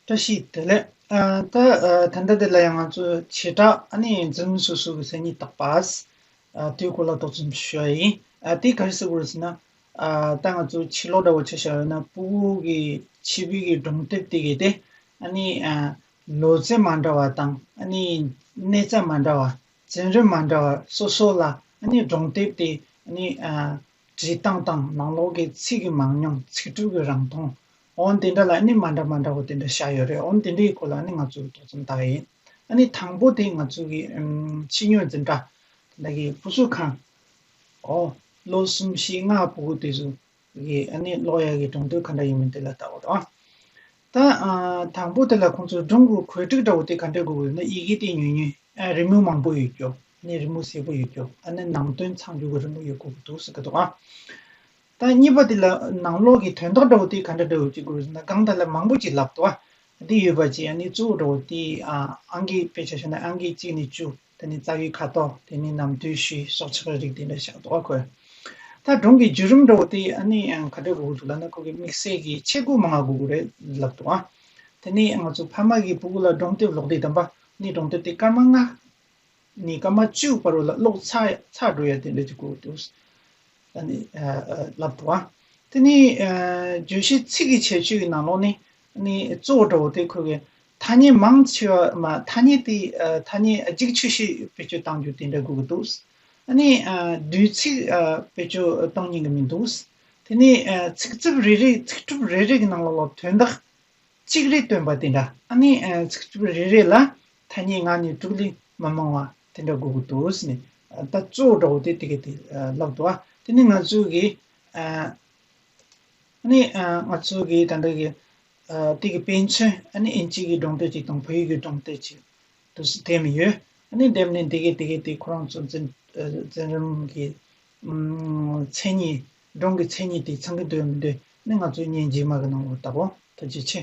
བཀྲ་ཤིས་བདེ་ལེགས། ད་ད་དེ་ལ་ཡང་ང་ཚོས་བྱེ་བྲག་ནི་འཛིན་མི་སོ་སོ་གི་སེམས་ཉིད་དག་པ། དེའི་སྐོར་ལ་དོགས་ཟོན་བྱེད་ཤོག་ཨེ་ཡིན། དེ་ག་རེ་ཟེར་དགོས་རེད་ཟེར་ན། ད་ང་ཚོ་ཕྱི་ལོགས་འདྲ་བོ་བྱ་བཞག་ཡོད་ན་སྤུ་བོ་གི་ཕྱི་བུད་ཀྱི་སྒྲོམ་སྟེགས་དེ་གས་ཏེ། ལོ་ཚད་མ་འདྲ་བ་དང་གནས་རྩ་མ་འདྲ་བ། འཛིན་རིམ་མ་འདྲ་བ་སོ་སོ་ལ་སྒྲོམ་སྟེགས་དེ་བྲིས་སྟངས་དང་ནང་ལོགས་ཀྱི་ཚིག་གི་མང་ཉུང་ཚིག་གྲུབ་ཀྱི་རང་མཐོང། འོན་དེ་འདྲ་ལ་ནི་མ་འདྲ་མ་འདྲ་བོ་དེ་འདྲ་བཞག་ཡོད་རེད་འོན་དེ་འདྲའི་སྐོར་ལ་ནི་ང་ཚོས་ཏོག་ཙམ་བརྟག་ཡིན་ཨ་ནི་དང་པོ་དེ་ང་ཚོས་གི་ཕྱི་སྨྱོན་འཛིན་གྲྭ་དེ་འདྲ་གི་བུ་གསོད་ཁང་ཨོ་ལོ་གསུམ་བཞི་ལྔ་བུ་གུ་དེ་ཚོ་གི་ཨ་ནི་ལོག་ཡ་གི་གྲོང་སྡོད་ག་འདྲ་ཡིན་མིན་དེ་ལ་བལྟ་བ་དང། ད་དང་པོ་དེ་ལ་ཁོང་ཚོས་སྒྲུང་གི་གོལ་སྒྲིག་འདྲ་བོ་དེ་ག་འདྲའི་དགོས་གི་ཡོད་ན་ཡི་གེ་དེ་ཉུང་ཉུང་ཨ་རི་མོ་མང་པོ་ཡོད་རྒྱུ་ཨ་ནི་རི་མོ་ཟེ་པོ་ཡོད་རྒྱུ་ཨ་ནི་ནང་དོན་ཚང་རྒྱུ་གི་རི་མོ་ཡོད་དགོས་གི་འདུག་ཟེར་གི་འདུག་ཨ། དང་གཉིས་པ་དེ་ལ་ནང་ལོགས་ཀྱི་དོན་དག་འདྲ་བོ་དེ་ག་འདྲ་འདྲ་བོ་ཅིག་དགོས་ཟེར་ན་སྒང་དག་ལ་མང་པོ་ཅིག་ལབ་ཏོ། དེ་ཡོད་པ་ཅིག་ཡང་ནི་གཙོ་བོ་འདྲ་བོ་དེ་ཨང་ཀི་དཔེ་ཆ་བཤད་ན་ཨང་ཀི་གཅིག་ནས་བཅུ་དེ་ནི་རྩ་བའི་ཁ་དོག་དེ་ནི་ནམ་དུས་བཞི་སོགས་ཆགས་རིགས་དེ་འདྲ་བཞག་ཏོ་ཁོས། ད་སྒྲུང་གི་བརྒྱུད་རིམ་འདྲ་བོ་དེ་ཡང་ནི་ག་འདྲ་དགོས་ཀྱི་འདུག་ལབ་ན་ཁོ་གི་དམིགས་བསལ་གྱི་ཆས་གོས་མང་ང་དགོས་ཀྱི་རེད་ལབ་ཏོ། དེ་ནི་ང་ཚོ་ཕ་མ་གི་བུ་གུ་ལ་སྒྲུང་དེབ་ལོག་དེ་དམ་པ་ནི་སྒྲུང་དེབ་དེ་སྐར་མ་ལྔ་ནས་ཀ་མ་བཅུ་བར་ལ་ལོག་ཚ་ཚ་འགྲོ་ཡ་དེ་འདྲ་གྱི་སྐོར་དུ། ད་ནི་ལབ་འདུག་ཨ། དེ་ནི་བརྗོད་གཞི་ཚིག་གི་བྱེད་སྤྱོད་ཀྱི་ནང་ལོགས་ནས་ནི་གཙོ་བོ་འདྲ་བོ་དེ་འཁོད་པའི་ཐ་སྙད་མང་ཆེ་བ་མ་ཐ་སྙད་དེ་ཐ་སྙད་གཅིག་ཆོས་ཤེས་བེད་སྤྱོད་གཏང་རྒྱུ་དེ་འདྲ་དགོས་ཀྱི་འདུག་ཨ། ནི་དུས་ཚིག་བེད་སྤྱོད་གཏོང་ཉན་གྱི་མི་འདུག་དེ་ནི་ཚིག་རྩིབ་རེ་རེ་ཚིག་གྲུབ་རེ་རེ་གྱི་ནང་ལོགས་ལ་དོན་དག་གཅིག་རེ་སྟོན་པ་དེ་འདྲ་ཨ་ནི། རེ་རེ་ལ་ཐ་སྙད་ངག་ནས་དྲུག་ལས་མ་མང་བ་དེ་འདྲ་དགོས་ཀྱི་འདུག་ཟེར་ནས་ད་གཙོ་བོ་འདྲ་བོ་དེ་དེ་ག་དེ་ལབ་འདུག་ཨ་དེ་ནི་ང་ཚོའི་གི། ཨ་ནི་ང་ཚོའི་གི་ད་འདྲ་གི། དེ་གི་དཔེ་མཚོན་ཨ་ནི་ཨིན་ཇིའི་གི་སྒྲུང་དཔེ་ཅིག་དང་བོད་ཡིག་གི་སྒྲུང་དཔེ་ཅིག་ཏུ་སྡེབས་ནས་ཡོད། ཨ་ནི་སྡེབས་ནས་དེ་གས་དེ་གས་དེ་ཁོ་རང་ཚོ་འཛིན་རིམ་གི། མཚན་ཉིད་འབྲོང་གི་མཚན་ཉིད་དེ་ཚང་གི་འདོད་མི་འདོད་ནི་ང་ཚོའི་གཉེན་གྱི་མ་གི་ནང་དུ་བལྟ་བོ་ཐུགས་རྗེ་ཆེ།